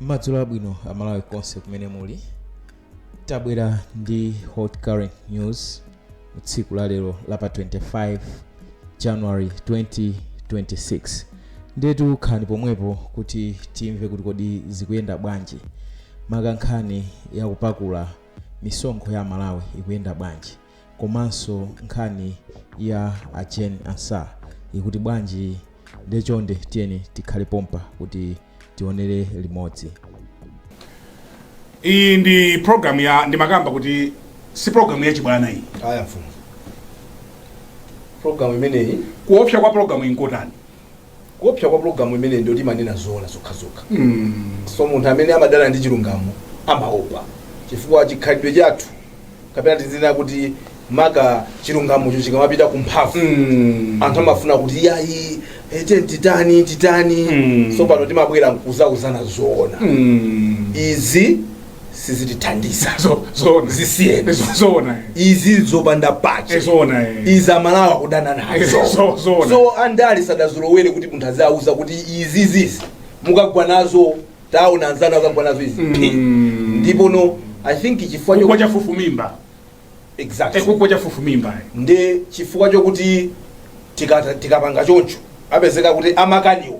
madzulo abwino amalawi konse kumene muli tabwera ndi hot current news tsiku la lero la pa 25 january 2026 ndetu khalani pomwepo kuti timve kuti kodi zikuyenda bwanji maka nkhani yakupakula misonkho ya amalawi ikuyenda bwanji komanso nkhani ya a Jane Ansah ikuti bwanji nde chonde tiyeni tikhale pompa kuti tionere limodzi iyi ndi program ya ndimakamba kuti si program ya chibwana iyi ayi mfumu program imeneyi kuopsa kwa program iyi nkotani Kuopsa kwa pulogalamu imeneyi ndi yoti imanena zoona zokhazokha so munthu amene amadana ndi chilungamo amaopa chifukwa chikhalidwe chathu kapena tizinena kuti maka chilungamocho chikamapita ku mphavu anthu amafuna kuti yayi ete titani titani Mm. so pano timabwera nkudzauzana zoona izi sizitithandiza Zo- zoona. zisiyeni Zo- zoona. izi zopanda pake Eh, zoona, eh. izi amalawi akudana nazo Eh, zo- zoona. so andale sadazolowere kuti munthu aziwauza kuti izi zizi mukagwa nazo taona anzanu akagwa nazo izi phi. Mm. ndipo no i think chifukwa kugwa cho chafufumimba Eh, exactly kugwa chafufumimba eh. nde chifukwa chokuti tikata- tikapanga choncho apezeka kuti amakaniwo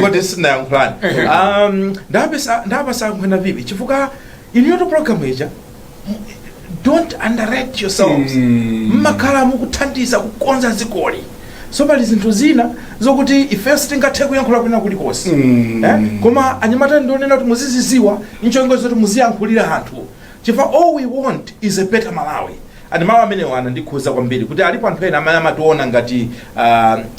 kuti sinayankhulani um, ndapesa- ndapasankhwena vipi chifukwa inuyotu program ija don't underrate yourselves Mm. mmakhala mukuthandiza kukonza dzikoli so pali zinthu zina zokuti ifenso tingathe kuyankhula kwina kulikonse Mm. eh? koma anyamata ndikunena kuti muzidziwa nchonga choti muziyankhulira anthu chifukwa all we want is a better malawi and mawu amenewo anandikhuza kwambiri kuti alipo anthu ena amene amationa ngati uh,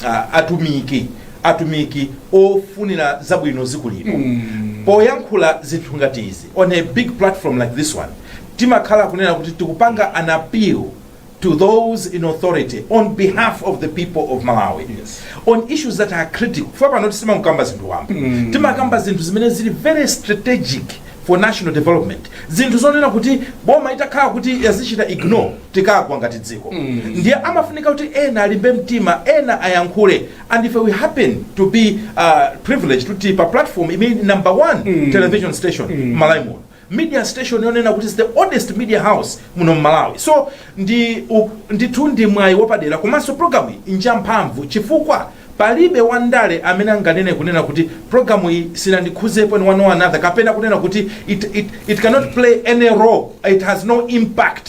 uh, atumiki atumiki ofunira zabwino dziko lino poyankhula zinthu ngati izi on a big platform like this one timakhala kunena kuti tikupanga an appeal to those in authority on behalf of the people of malawi Yes. on issues that are critical chifukwa pano sitimakamba zinthu wamba timakamba zinthu zimene zili very strategic for national development zinthu zonena kuti boma itakhala kuti yazichita ignore tikagwa ngati dziko ndiye amafunika kuti ena alimbe mtima ena ayankhule and if we happen to be uh, privileged kuti pa platform imene number one television station mm. malawi muno media station yonena kuti is the oldest media house muno mmalawi so ndi u- ndithu ndi mwayi wapadera komanso programu iyi njamphamvu chifukwa palibe wandale amene anganene kunena kuti programu iyi sinandikhuzepo in one or another kapena kunena kuti it, it, it cannot play any role it has no impact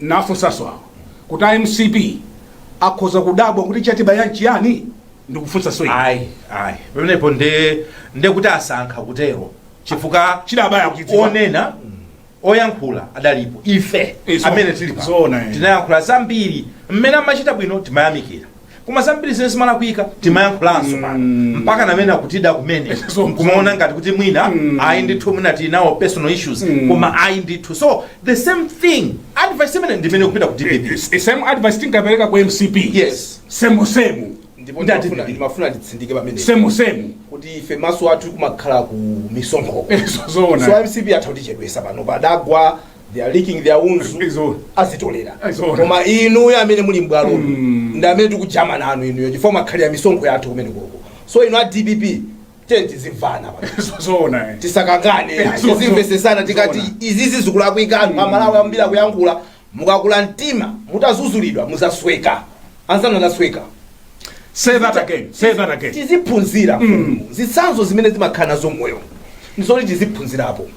Nafunsaso awa kuti a mcp akhoza kudabwa kuti chatibaya n'chiyani? Ndikufunsaso ine. ayi ayi pamenepo nde nde kuti asankha kutero chifukwa Chidabaya akuchidziwa. onena oyankhula adalipo ife Izo. amene tili pa Zoona, eh. tinayankhula zambiri mmene amachita bwino timayamikira koma zambiri zimene zimalakwika timayankhulanso pano mpaka amene akutida kumene So- kumaona ngati kuti mwina ayi ndithu mwina tili nawo personal issues koma ayi ndithu so the same thing advice imene ndimene kupita ku dpp S- same advice tinkapereka ku mcp yes semu semu ndipo Ndi ndimafuna- ati- ndimafuna nditsindike pamene semu semu kuti ife maso athu amakhala ku misonkho Ezo zoona. so mcp atha kutichedwesa pano padagwa they are licking their wounds Ndi zoona. azitolera Ndi zoona. koma inuyo amene muli m'bwalo ndi amene tikujama nanu inuyo chifukwa mwakhalira misonkho yathu kumene koko so inu a dpp tiyeni tizimvana pano zoona eh. tisakangane Eh, so- tizimvesesana so- tikati zoona. izizi zikulakwika anthu amalawi ambiri akuyankhula mukakula mtima mutazuzulidwa muzasweka anzanu anasweka Say that again. Say that again. tiziphunzira mm. zitsanzo zimene zimakhala nazo moyo ndizoti tiziphunzirapo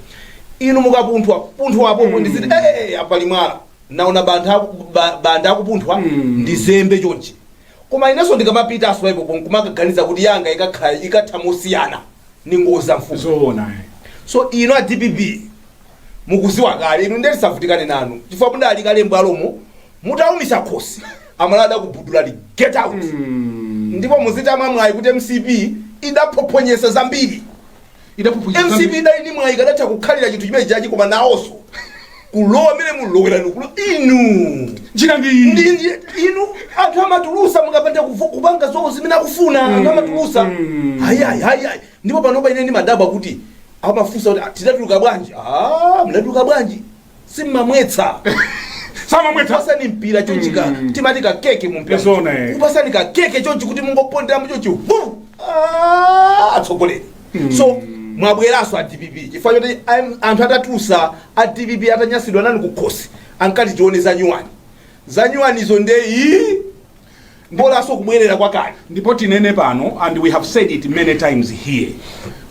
inu mukapunthwa apo mm. ndiziti hey, apali mwala naona bantha aku- ba- banda akupunthwa mm. ndizembe chonchi koma inenso ndikamapita pasoipo kumakaganiza kuti yanga ikakhala ikatha mosiyana ni ngozi za mfumu Zoona. eh. so inu a dpp mukuziwa kale inu nde tisavutikane nanu chifukwa mudali kale mbwalomo Mutaumitsa khosi amalawi adakubudulani get out ndipo muzitama mwayi kuti mcp idaphophonyesa zambiri. Idaphophonyesa mcp zambiri. idali ndi mwayi ikadatha kukhalira chinthu chimene chachi koma nawoso kulowa mmene munalowera mkulo inu Njira ndi iyi. ndi ndi- inu anthu amatulusa mukapanda kuvo- kupanga zawo zimene akufuna anthu amatulusa ayayi ayayi ndipo panopa ine ndimadabwa kuti amafunsa kuti "Ah, tidatuluka bwanji Ah, mnatuluka bwanji simmamwetsa samamwetsa upasani mpira chonchi ka timati ka keke mu mpira Zona, eh. upasani ka keke chonchi kuti mungopondera muchonchi hu Ah, atsogoleri so mwabweranso a dpp chifukwa choti am- anthu atatulusa a dpp atanyasidwa nanu kukhosi ankati tione za nyuwani za nyuwanizo nde iyi mbolanso kubwerera kwakale ndipo tinene pano and we have said it many times here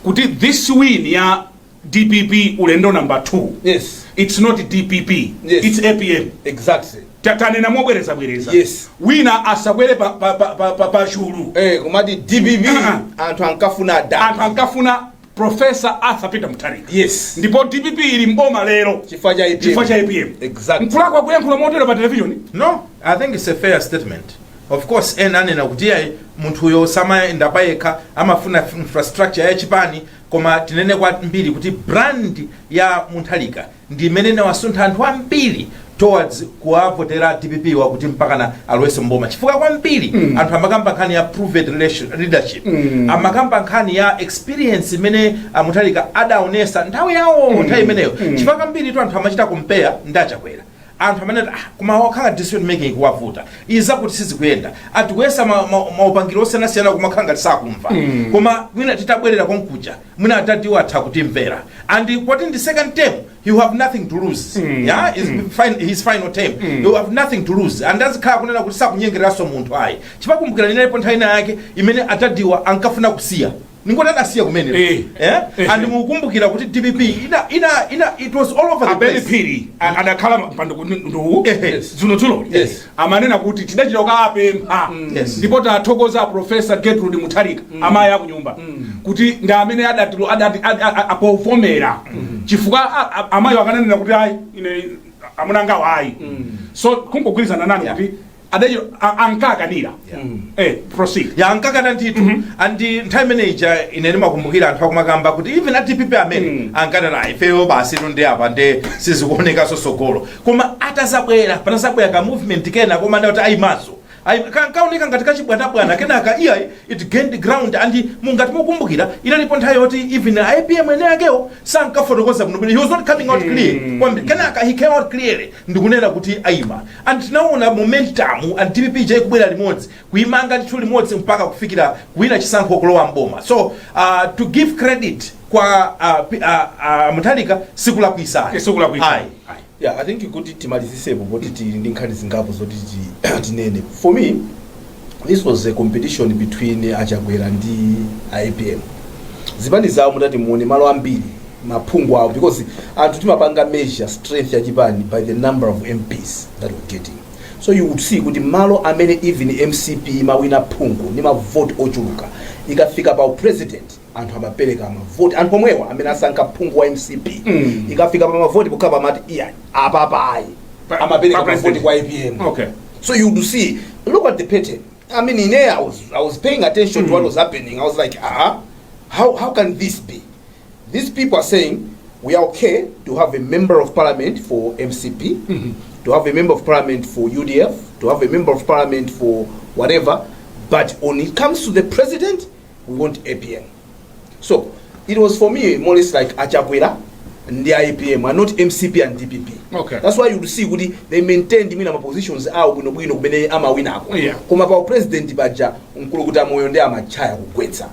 kuti this win ya dpp ulendo number 2 Yes. its not dpp Yes. its apm exactly Ta- tanena mobwereza bwereza Yes. wina asakwere pa, pa, pa, pa, pa, pa chulu eh kumati dpp Ah. anthu ankafuna anthu da ankafuna profesa arthur peter mutharika yes ndipo dpp ili mboma lero chifukwa cha chifukwa cha apm apm exactly mkulakwa kuyankhula motero pa televishoni no i think it's a fair statement of course ena amanena kuti ayi munthuyo samayenda payekha amafuna f- infrastructure ya chipani Koma tinene kwambiri kuti brand ya Mutharika ndi imene inawasuntha anthu ambiri towards kuwavotera dpp wa kuti mpakana alowenso mboma chifukwa kwambiri mm. anthu amakamba nkhani ya proven relation- leadership mm. amakamba nkhani ya experience imene a Mutharika adaonesa nthawi yawo nthawi imeneyo chifukwa kwambiri tu anthu amachita compare ndi a Chakwera anthu amene ah, kumawakhala decision making ikuwavuta izi zakuti sizikuyenda atikuyesa ma- ma- maupangiro osiyanasiyana kumakhala ngati sakumva koma mwina titabwerera konkuja mwina adadiwo atha kutimvera and poti ndi second term you have nothing to lose yeah his fin his final term you have nothing to lose and azikhala kunena kuti sakunyengereranso munthu ayi chifukwa kumbukira inalipo nthawi ina yake imene adadiwa ankafuna kusiya ndingoti adasiya kumene Eh. eh? Eh. and mukumbukira kuti dpp ina, ina, ina, it was all over the abele place phiri a- adakhala pa mpando nduu Ehe. dzulo dzulo Yes. amanena kuti tidachita kukapempha Yes. ndipo tathokoza a profesa gertrude mutharika amayi akunyumba kuti ndi amene adati- adati- ad- a- a- apovomera chifukwa a- a- amayi akananena kuti ayi ine amunangawo ayi so kungogwirizana nani Yeah. kuti adachita a- ankakanira eh proceed ya ankakana ndithu and nthawi imene ija ine ndimakumbukira anthu akumakamba kuti even a dpp amene Mm. ankati ifeyo basi ino ndi apa nde sizikuonekanso tsogolo koma atazabwera panazabwera ka movement kena koma adadi ayimanso Ayi- ka- kaoneka ngati kachibwanabwana kenaka iya it gained ground and mungati mukumbukira inalipo nthawi yoti even a apm eni akewo sankafotokoza bwino bwino he was not coming out clear kwambiri kenaka he came out clearly ndikunena kuti ayima And tinaona momentum and dpp ija ikubwera limodzi kuimanga ndithu limodzi mpaka kufikira kuwina chisankho kulowa mboma so uh, to give credit kwa uh, P- uh, uh, mutharika sikulakwisa Eh, sikulakwisa. Ayi. Ayi. yeah i think kuti timalizitsepo poti tili ndi nkhani zingapo zoti ti- tinene for me this was a competition between a chakwera ndi a apm zipani zawo mutati muone malo ambiri maphungu awo because anthu timapanga measure strength ya chipani by the number of mps that we getting so you would see kuti malo amene even mcp imawina phungu ndi mavoti ochuluka ikafika pa president anthu amapereka mavoti anthu omwewo amene asankha phungu wa mcp Mm. ikafika pa mavoti pokhapa amati iya apapa ayi Pa- amapereka pa mavoti president. kwa apm Okay. so you would see look at the pattern i mean in there i was, I was paying attention to what was happening i was like ah how, how can this be These people are saying we are okay to have a member of parliament for MCP, to have a member of parliament for UDF, to have a member of parliament for whatever, but when it comes to the president, we want APM. So it was for me more or less like Achakwera and the IPM and not MCP and DPP. Okay. That's why you see kuti they maintained mina positions awo bwino bwino kumene amawinako. Yeah. Koma pa president baja mkulu kuti amoyo ndi amachaya kugwetsa.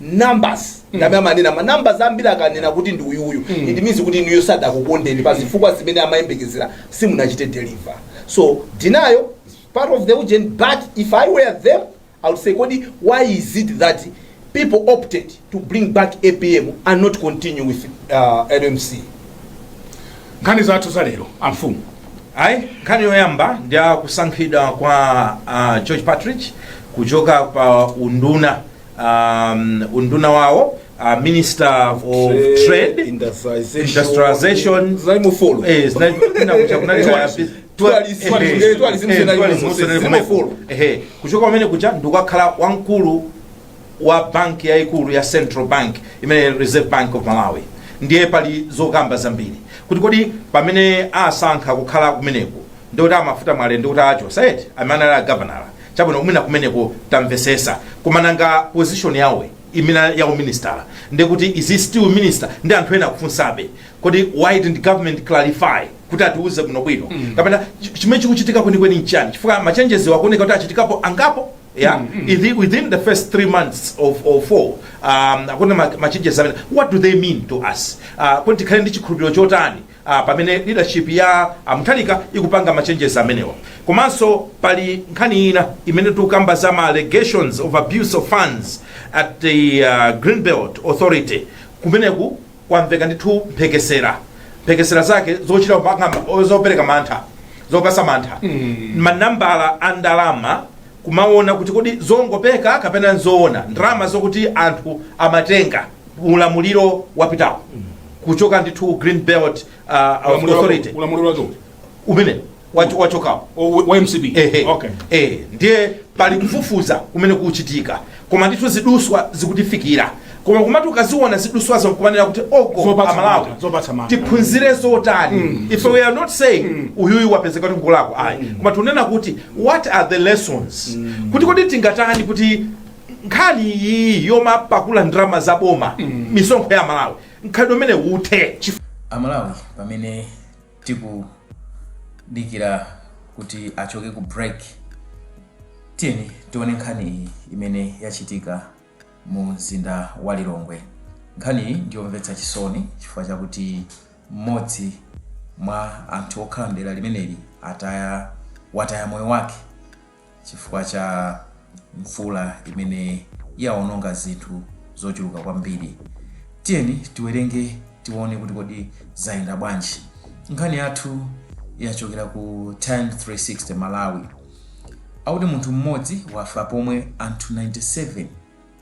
numbers ndame amanena ma numbers ambiri akanena kuti ndi uyuyu it means kuti inuyo sadakukondeni pa zifukwa zimene amayembekezera simunachite deliver so denial is part of the ujeni but if i were them i would say kodi why is it that people opted to bring back apm and not continue with uh, lmc nkhani zathu za lero amfumu ayi nkhani yoyamba ndi ya kusankhidwa kwa uh, george patrick kuchoka pa unduna um, unduna wawo uh, minister of trade industrialization zaimufolo eh, zina- kuna kucha- kuna Tourism. cha- Tourism. eh, Tourism. eh, Tourism. eh, tourism. Tourism. Tourism. Zimafollow. Ehe. kuchoka pamene kuja ndikukakhala wamkulu wa banki yayikulu ya central bank imene reserve bank of malawi ndiye pali zokamba zambiri kuti kodi pamene asankha kukhala kumeneku ndikuti a Mafuta Mwale ndikuti achosa eti amene anali a gavanala chabwino mwina kumeneko tamvesesa koma nanga position yawo imene ya uministala ndikuti is he still minister ndi anthu ena akufunsabe kodi why didn't government clarify kuti atiuze bwinobwino kapena ch- chimene chikuchitika kwenikweni nchani chifukwa machenjezi akuoneka kuti achitikapo angapo yeah Ithi- within the first three months of or four um, akuna machenjezi amene what do they mean to us uh, kodi tikhale ndi chikhulupiriro chotani a pamene leadership ya a Mutharika ikupanga machenjezi amenewa. Komanso pali nkhani ina imene tikukamba za ma allegations of abuse of funds at the uh, Greenbelt Authority kumeneku kwamveka ndithu mphekesera mphekesera zake zochita kupanga zopereka mantha zopatsa mantha manambala a ndalama kumawona kuti kodi zongopeka kapena nzoona ndalama zokuti anthu amatenga ulamuliro wapitawo kuchoka ndithu Greenbelt uh, authority ulamuliro wake uti? umene wacho- wachokawo O- wa mcp Ehe. okay Eh, ndiye pali kufufuza kumene kuchitika koma ndithu ziduswa zikutifikira koma kumati ukaziona ziduswazo nkumanena kuti oko Zopatsa amalawi mantha, zopatsa mantha. tiphunzire zotani if we are not saying uyuyu wapezeka kuti ngolakwa ayi koma tunena kuti what are the lessons kuti kodi tingatani kuti nkhani iyi yomapakula ndalama za boma misonkho ya aMalawi mkhalidwe umene uthe amalawi pamene Tikudikira kuti achoke ku break, tiyeni tione nkhani iyi imene yachitika mu mzinda wa Lilongwe. Nkhani iyi ndiyomvetsa chisoni chifukwa chakuti mmodzi mwa anthu okhala mdera limeneli ataya wataya moyo wake Chifukwa cha mvula imene yawononga zinthu zochuluka kwambiri. Tiyeni tiwerenge tione kuti kodi zayenda bwanji. Nkhani yathu yachokera ku Times 360 Malawi. Akuti munthu mmodzi wafa pomwe anthu 97.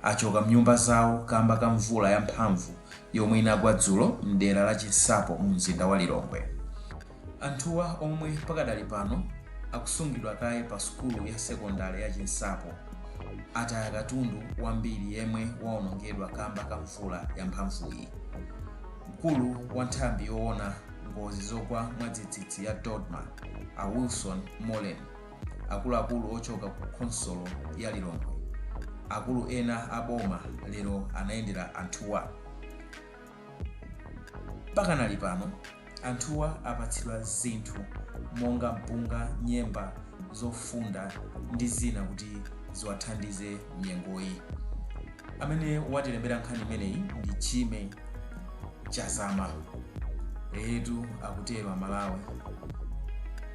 achoka mnyumba zawo kamba ka mvula ya mphamvu yomwe inagwa dzulo mdera la Chinsapo mu mzinda wa Lilongwe. Anthuwa omwe pakadali pano akusungidwa kaye pa sukulu ya sekondale ya Chinsapo, ataya katundu wambiri yemwe waonongedwa kamba ka mvula ya mphamvuyi. Mkulu wa nthambi yowona ngozi zogwa mwadzidzidzi ya DoDMA, a Wilson Moleni, Akuluakulu ochoka ku khonsolo ya Lilongwe, akulu ena a boma lero anayendera anthuwa. Pakanali pano, anthuwa apatsidwa zinthu monga mpunga, nyemba, zofunda ndi zina kuti ziwathandize mnyengoyi. Amene watilembera nkhani imeneyi ndi Jimmy Chazama. Eyetu akutero Amalawi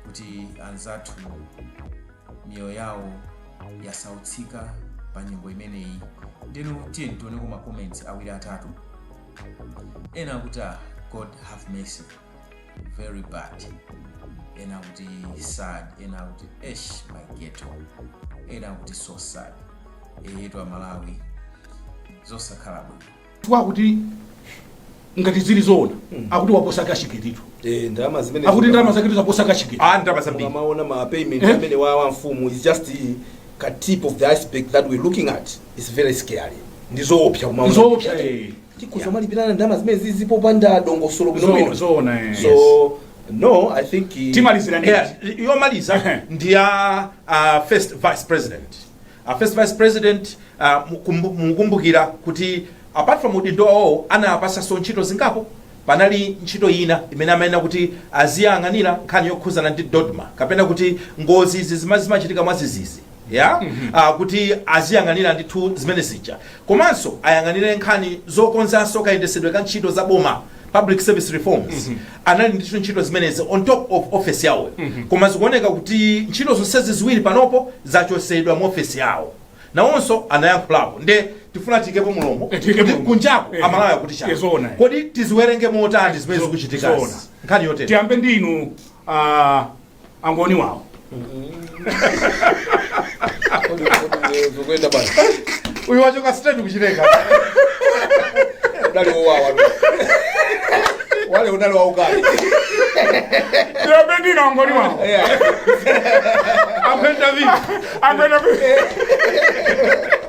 kuti anzathu miyoyo yawo yasautsika pa nyengo imeneyi. Ndeno tiyeni tioneko ma comments awiri atatu. Ena akuti ah, God have mercy. very bad ena akuti sad ena akuti esh my ghetto ena akuti so sad eyetu amalawi zosakhala bwino chifukwa kuti ngati zili zoona akuti waposa cashgate-tu Eh, ndalama zimene akuti ndalama zaketu zaposa cashgate ah ndalama zambiri Ukamaona ma payment Eh? amene wa wa mfumu is just the ka tip of the iceberg that we're looking at is very scary ndizoopsa kumaona Ndizoopsa, eh. tikhoza kumalipirana ndalama zimene izizi popanda dongosolo Zo- bwinobwino zoona, eh. so no i think uh, timalizira ndi Yeah, yomaliza Ehe. ndi ya uh, first vice president uh, first vice president uh, mukumbu- mukumbukira kuti apart from udindo wawo anawapasaso ntchito zingapo panali ntchito ina imene amayenera kuti aziyang'anira nkhani yokhuzana ndi dodma kapena kuti ngozi izi zimachitika mwazizizi ya ah, kuti aziyang'anira ndithu zimene zija komanso ayang'anire nkhani zokonzanso kayendesedwe ka ntchito za boma public service reforms anali ndithu ntchito zimenezi on top of office yawo koma zikuoneka kuti ntchito zonsezi ziwiri panopo zachosedwa mu office yawo nawonso anayankhulapo nde tifuna tiikepo mulomo Eh, tiikepo kuti mulomo. kunjako Eh, amalawi akuti eh, chani zoona. kodi tiziwerenge motani zimene Zo- zikuchitika zoona. nkhani yotere tiyambe ndi inu ah, angoni wawo zokwenda bwana uyu wachoka straight kuchileka udali wowawa wale udali waukali ndinapendina angoni wawo ampenda vii ampenda vii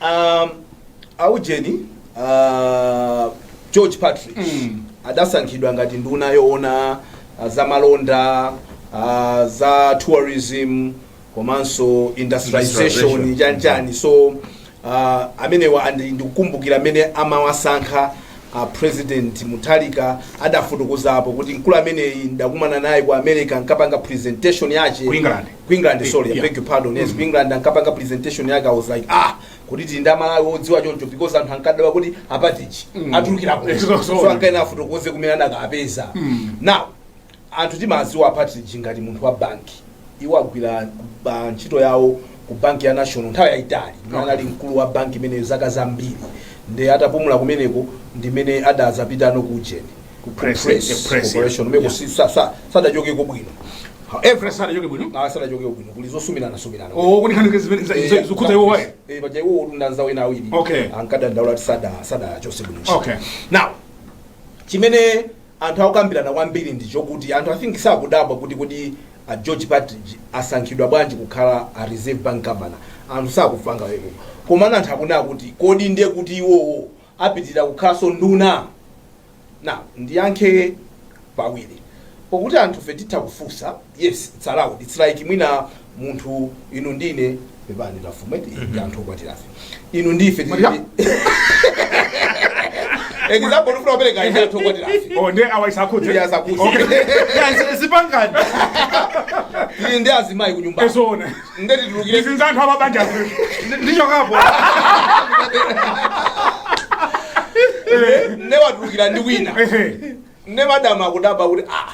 Ah, aujeni ah, george partridge Mm. adasankhidwa ngati nduna yoona ah, za malonda ah, za tourism komanso industrialization Industrialization. chanchani so ah, amenewa ndikukumbukira mmene amawasankha ah, president mutharika adafotokozapo kuti mkulu ameneyi ndinakumana naye ku america ankapanga presentation yake Ku England. ku england sorry i Yeah. beg your pardon yes ku england ankapanga presentation yake i was like ah kuti tili ndi amalawi odziwa choncho because anthu ankadabwa kuti a partridge atulukira kuti Exactly. so ankaena afotokoze kumene anakapeza now anthu timawadziwa a partridge ngati munthu wa banki iwo agwira ba- ntchito yawo ku banki ya national nthawi yayitali imene anali mkulu wa banki imeneyo zaka zambiri nde atapumula kumeneko ndimene adazapita no ku ujeni Ku press, the press, corporation yeah. kumeneko si- sa- sa- sadachokeko bwino However sadachoke bwino. Ah, sadachoke bwino. Kuli zosumiranasumirana. Oh, kuli nkhani zimene za za- zokhuza iwowa eh. Eh, baje iwo ndi anzawo ena awiri. Okay. Ankadandaula ati sada sadachotse bwino. Okay. Now, chimene anthu akukambirana kwambiri ndi chokuti anthu i think sakudabwa kuti kuti a george partridge asankhidwa bwanji kukhala a reserve bank governor anthu sakufanga weko komana anthu akunena kuti kodi ndiye kuti iwowo apitilira kukhalanso nduna? Now ndiyankhe pawiri pokuti anthufe titha kufunsa yes its allowed its like mwina munthu inu ndine pepani amfumu eti ndi anthu okwatirafe inu ndife Mwakwatira? example ndifuna kupereka ine anthu okwatirafe Oh, ndiye awa isawakhudze. Ndiye asakhudze. Okay. Yes, zipangani. Tili ndi azimayi kunyumba Eh zoona. nde titulukire izi za anthu amabanja akulu ndichokapo nde watulukira ndi wina nde madamu akudabwa kuti ah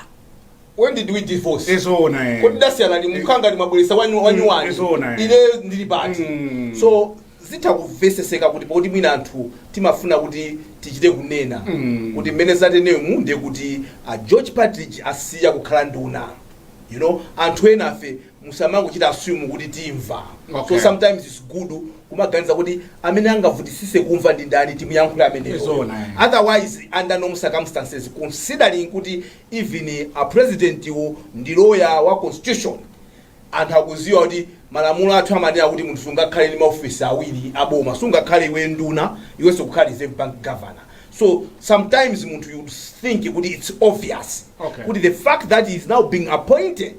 when did we divorce eh zoona eh. kodi tasiyana ndi mukhanga ndi mwabweretsa wanyu Mm, wanyuwani zoona, eh. ine ndili pati Mm. so zitha kumvetsetseka kuti poti mwina anthu timafuna kuti tichite kunena Mm. kuti mmene zateremu ndiye kuti a george partridge asiya kukhala nduna you know anthu enafe musamangochita assume kuti timva Okay. so sometimes its good kumaganiza kuti amene angavutitsitse kumva ndi ndani timuyankhule ameneyo Zoona, eh. otherwise under normal circumstances considering kuti even a president wo ndi lawyer wa constitution anthu akudziwa kuti malamulo athu amanena kuti munthu sungakhale ndi maofisi awiri aboma sungakhale iwe nduna iwenso ukhale reserve bank governor so sometimes munthu you think kuti its obvious Okay. kuti the fact that he is now being appointed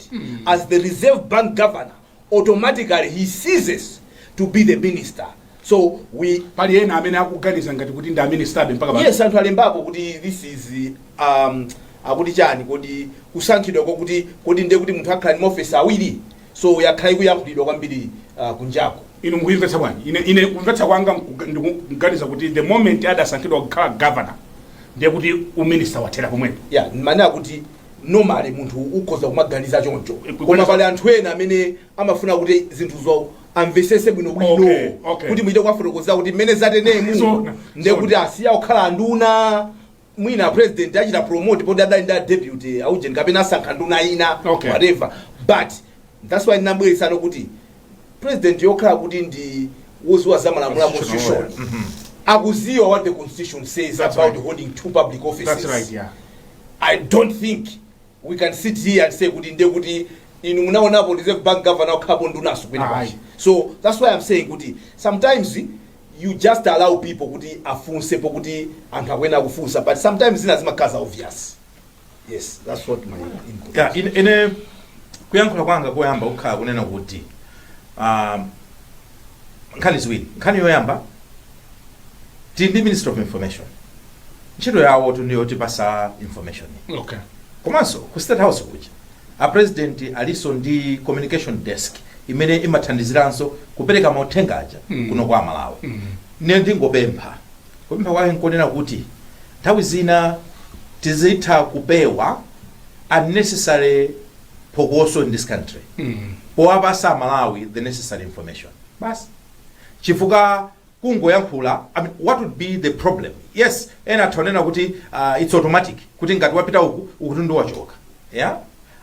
as the reserve bank governor automatically he ceases to be the minister so pali ena amene akuganiza ngati kuti ndi a ministerbe mpaka pano. yes anthu alembapo kuti this is um, akuti chani kodi kusankhidwa kwakuti kodi ndiye kuti munthu akhala ndi maofisi awiri So yakhala ikuyankhulidwa kwambiri kunjaku. Inu mukuyimvetsa bwanji? Ine, ine kumvetsa kwanga ndikuganiza kuti the moment adasankhidwa kukhala governor ndiye kuti uminister wathera pomwepo. Yeah, nd'manena kuti normally munthu ukhoza kumaganiza choncho. Eh, koma Kukwenza- pali anthu ena amene amafuna kuti zinthuzo amvetsetse bwino bwino Okay, okay. kuti muchite kuwafotokozera kuti mmene zateremu Zoona, ndiye zoona. kuti asiya kukhala anduna mwina a president achita promote poti adali ndi a deputy a ujeni kapena asankha nduna ina Okay. whatever but that's why ndinabweretsanso kuti presidentiyo pokhala kuti ndi wodziwa za malamulo a Constitutional constitution lawyer. akudziwa what the constitution says That's about right. holding two public That's offices right, yeah. I don't think we can sit here and say kuti nde kuti inu munaonapo reserve bank governor wakhalapo ndunanso kwina Ayi. kwake so that's why i'm saying kuti sometimes you just allow people kuti afunsepo kuti anthu akuyenera kufunsa but sometimes zina zimakhala za obvious yes that's what my input ya ine, ine kuyankhula kwanga koyamba kukhala kunena kuti um, nkhani ziwiri nkhani yoyamba tili ndi minister of information ntchito yawo tu ndiyo tipasa information okay komanso ku state house kuja A president alinso ndi communication desk imene imathandiziranso kupereka mauthenga aja kuno kwa aMalawi. Ine ndingopempha, kupempha kwake nkonena kuti nthawi zina tizitha kupewa unnecessary phokoso in this country powapasa aMalawi the necessary information basi chifukwa kungoyankhula I mean, what would be the problem yes ena atha kunena kuti uh, its automatic kuti ngati wapita uku ukutu ndi wachoka yeah?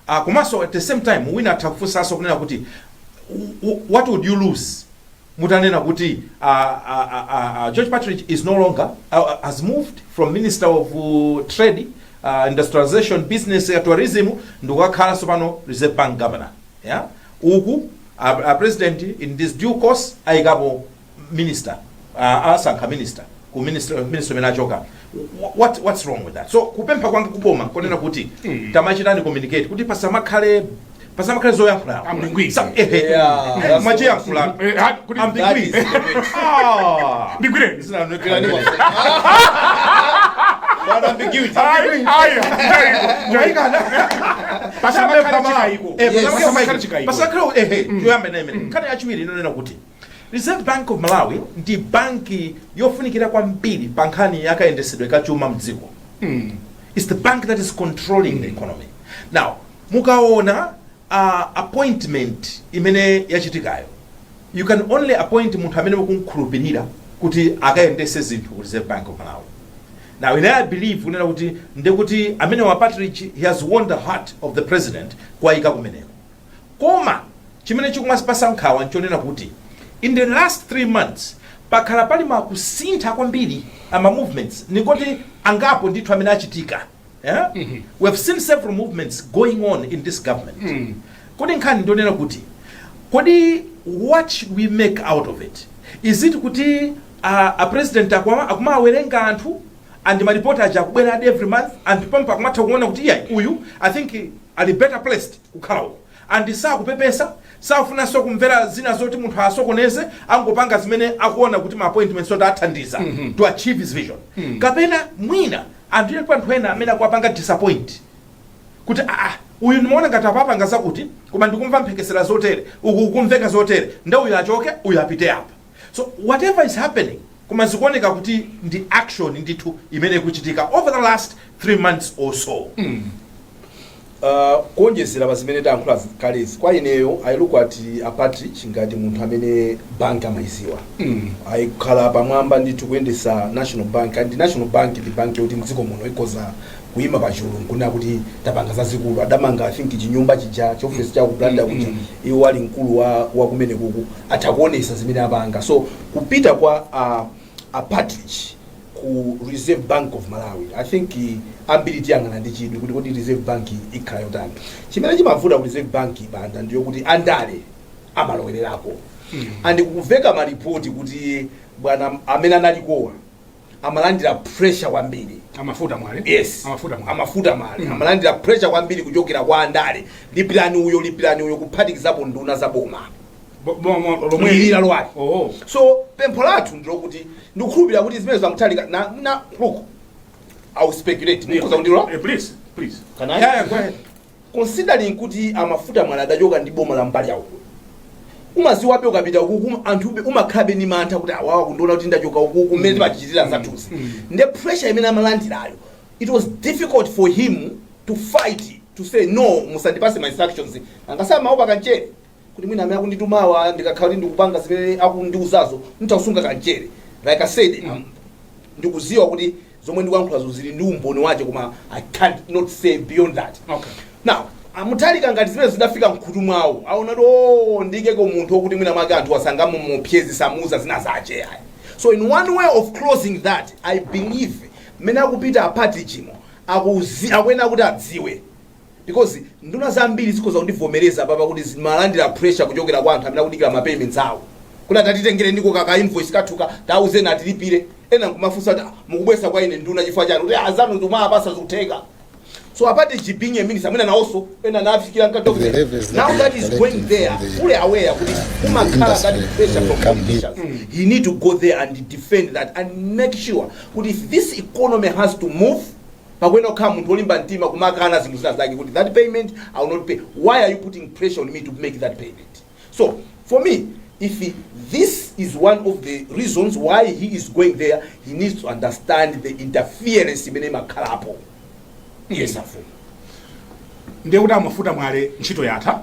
uh, komanso at the same time wina atha kufunsanso kunena kuti w- w- what would you lose mutanena kuti uh, uh, uh, uh, uh, george partridge is no longer uh, uh, has moved from ministry of uh, trade uh, industrialization business uh, tourism ndikukakhalanso pano reserve bank governor ya uku a, a president in this due course ayikapo minister uh, asankha minister ku ministry imene achoka Wh- what what's wrong with that so kupempha kwanga kuboma nkonena kuti tamachitani communicate kuti pasamakhale pasamakhale zoyankhula Ambigui. Sa- ehe. Yeah, that's- machiyankhula Eh, ha- kuti- ambiguity Ah. ndigwireni nkhani yachiwiri ndi yonena kuti reserve bank of malawi ndi banki yofunikira kwambiri pa nkhani yakayendesedwe ka chuma mdziko it's the bank that is controlling the economy now mukaona uh, appointment imene yachitikayo You can only appoint munthu amene mukumkhulupirira kuti akayendese zinthu ku Reserve Bank of Malawi. Now ine I believe kunena kuti ndekuti ameneyu a Partridge he has won the heart of the president kuwayika kumeneko. Koma chimene chikumatipasa nkhawa nchonena kuti in the last three months pakhala pali ma kusintha kwambiri ama movements ndikuti angapo ndithu amene achitika Eh? Mhm. We have seen several movements going on in this government. Mm. Kodi nkhani ndonena kuti kodi what should we make out of it? Is it kuti uh, a president aku akumawawerenga anthu and maripoti aja akubwera adi every month and pompo akumatha kuona kuti iyayi uyu I think ali better placed kukhala uko. And sakupepesa, sakufunanso kumvera zina zoti munthu asokoneze, angopanga zimene akuona kuti ndi ma appointments oti athandiza mm -hmm. to achieve his vision. Mm -hmm. Kapena mwina and alipo anthu ena amene akuwapanga disappoint kuti ah, ah uyu ndimaona ngati apapanga zakuti koma ndikumva mphekesera zotere uku kukumveka zotere nde uyu achoke uyu apite apa So whatever is happening koma zikuoneka kuti ndi action ndithu imene ikuchitika over the last three months or so Uh, kuonjezera pa zimene tayankhula zi- kalezi kwa ineyo i look at a partridge ngati munthu amene bank amayiziwa Mm. ayikhala pamwamba ndithu kuyendesa national bank and national bank ndi bank yoti mdziko muno ikoza kuima pachulu nkunena kuti tapanga zazikulu adamanga i think chinyumba chija chiofesi chawo ku blantyre kuja iwo ali mkulu wa, wa kumenekuko atha kuonesa zimene apanga so kupita kwa uh, a partridge ku reserve bank of malawi i think eh, ambiri tiyang'ana ndi chidwi kuti kodi reserve bank ikhala yotani chimene chimavuta ku reserve bank banda ndiyo kuti andale amalowererako and kukuveka malipoti kuti bwana amene analikowa amalandira pressure kwambiri a mafuta mwale yes a mafuta mwale a mafuta mwale amalandira pressure kwambiri kuchokera kwa andale lipirani uyo lipirani uyo kuphatikizapo nduna za boma Bo- bo- mo- lomwe lomweli lalowali oh so pempho lathu ndilokuti ndikukhulupirira kuti zimene za mutharika na, na look i will speculate mukhoza kundilola Eh, please please Can I? yeah, yeah, go ahead considering kuti a mafuta mwale adachoka ndi boma la mbali yawo umaziwabe ukapita ukuku anthu be- umakhalabe ndi mantha kuti awawa kundiona kuti ndachoka ukuku mmene timachitira zathuzi nde pressure imene amalandirayo it was difficult for him to fight to say no musandipase ma instructions angasama amaopa kamchere kuti mwina amene akunditumawa ndikakhala kuti ndikupanga zimene akundiuzazo nditha kusunga kamchere like i said um, ndikuziwa kuti zomwe ndikuyankhulazo zili ndi umboni wache koma i cannot say beyond that Okay. now a mutharika ngati zimene zidafika mkhutu mwawo aona kuti ndiikeko munthu wokuti mwina mwake anthu sangamamuopseze samuuza zina zache ayi so in one way of closing that i believe mmene akupita a partridge umo akuzi akuyenera kuti adziwe Because nduna zambiri zikhoza kundivomereza apapa kuti zimalandira pressure kuchokera kwa anthu amene akudikira ma payments awo. Kuti tatitengereniko ka ka invoice kathuka tawauzeni atilipire. Ena nkumafunsa kuti "Ah, mukubwera kwa ine nduna chifukwa chani? Kuti azanu ndikumapasa zikutheka. So a partridge being a minister, mwina nawonso zinawafikira mkati wa The levels that Now we that are is going collecting there, from the- fully aware kuti the umakhala industry that pressure will from come here. politicians. He need to go there and defend that and make sure kuti if this economy has to move pakuyenera kukhala munthu olimba mtima kumakana zinthu zina zake kuti that payment i will not pay why are you putting pressure on me to make that payment so for me if this is one of the reasons why he is going there he needs to understand the interference imene imakhalapo yes afumu ndiye kuti a mafuta mwale ntchito yatha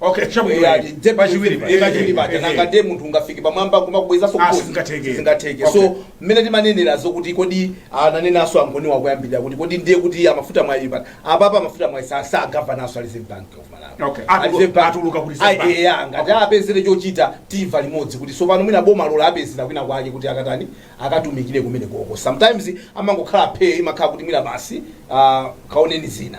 Okay, chabwino. Eh, ati, nde- Pachiwiri paja. eh, pachiwiri paja. Eh, eh. nanga ndiye munthu ungafike pamwamba kumakubwezaso Ah, sizingatheke. sizingatheke Okay. so mmene timanenera zokuti kodi ananenanso angoni akuyambirira kuti kodi ndiye kuti amafuta mwai pano apapa amafuta mwai sa- si governor-nso a reserve bank of malawi Okay, A atulu- Reserve Bank- atuluka ku Reserve Ai, Bank. eh, ah, ngati apezere chochita timva nimodzi kuti so pano mwina boma lola apezera kwina kwake kuti akatani akatumikire kumene koko sometimes amangokhala phe imakhala kuti mwina basi ah, kaoneni zina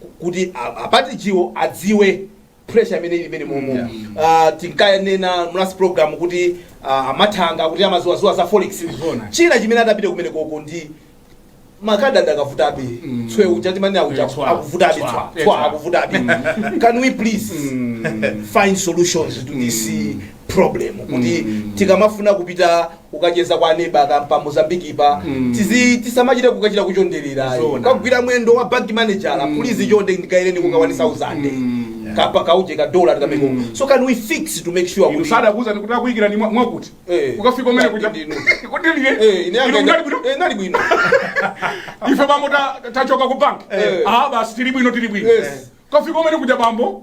ku- kuti a- a deputy chiwo adziwe pressure imene ili imene momo Yeah. Ah, tinkanena mu last program kuti ah, a Mathanga kuti amaziwaziwa za forex Izona. china chimene adapite kumene koko ndi makadi akadavutabe Mm. tswe uja timanena uja Eh, tswa. akuvutabe Tswa. tswa Eh, tswa tswa. akuvutabe can we please Mm. find solutions to this problem kuti tikamafuna kupita kukacheza kwa neba kapena pa Mozambique-pa tizi tisamachite kukachita kuchonderera Zona. kugwira mwendo wa bank manager please chonde ndiikireni kakawani 1000 kapena kauje ka dollar tikameko so can we fix to make sure kuti usada akuuza kuti takuyikira ni mwa- mwakuti Eh. ukafika umene kuja Ndinu. kuti eh ndiye ine munali bwino eh nali bwino ife bambo ta- tachoka ku bank Eh. ah basi tili bwino tili bwino Yes. kafika umene kuja bambo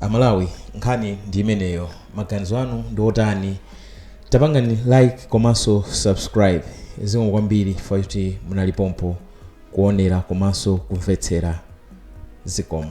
amalawi nkhani ndi imeneyo maganizo anu ndi otani tapangani like komanso subscribe zikomo kwambiri chifukwa choti munali pompo kuonera komanso kumvetsera zikomo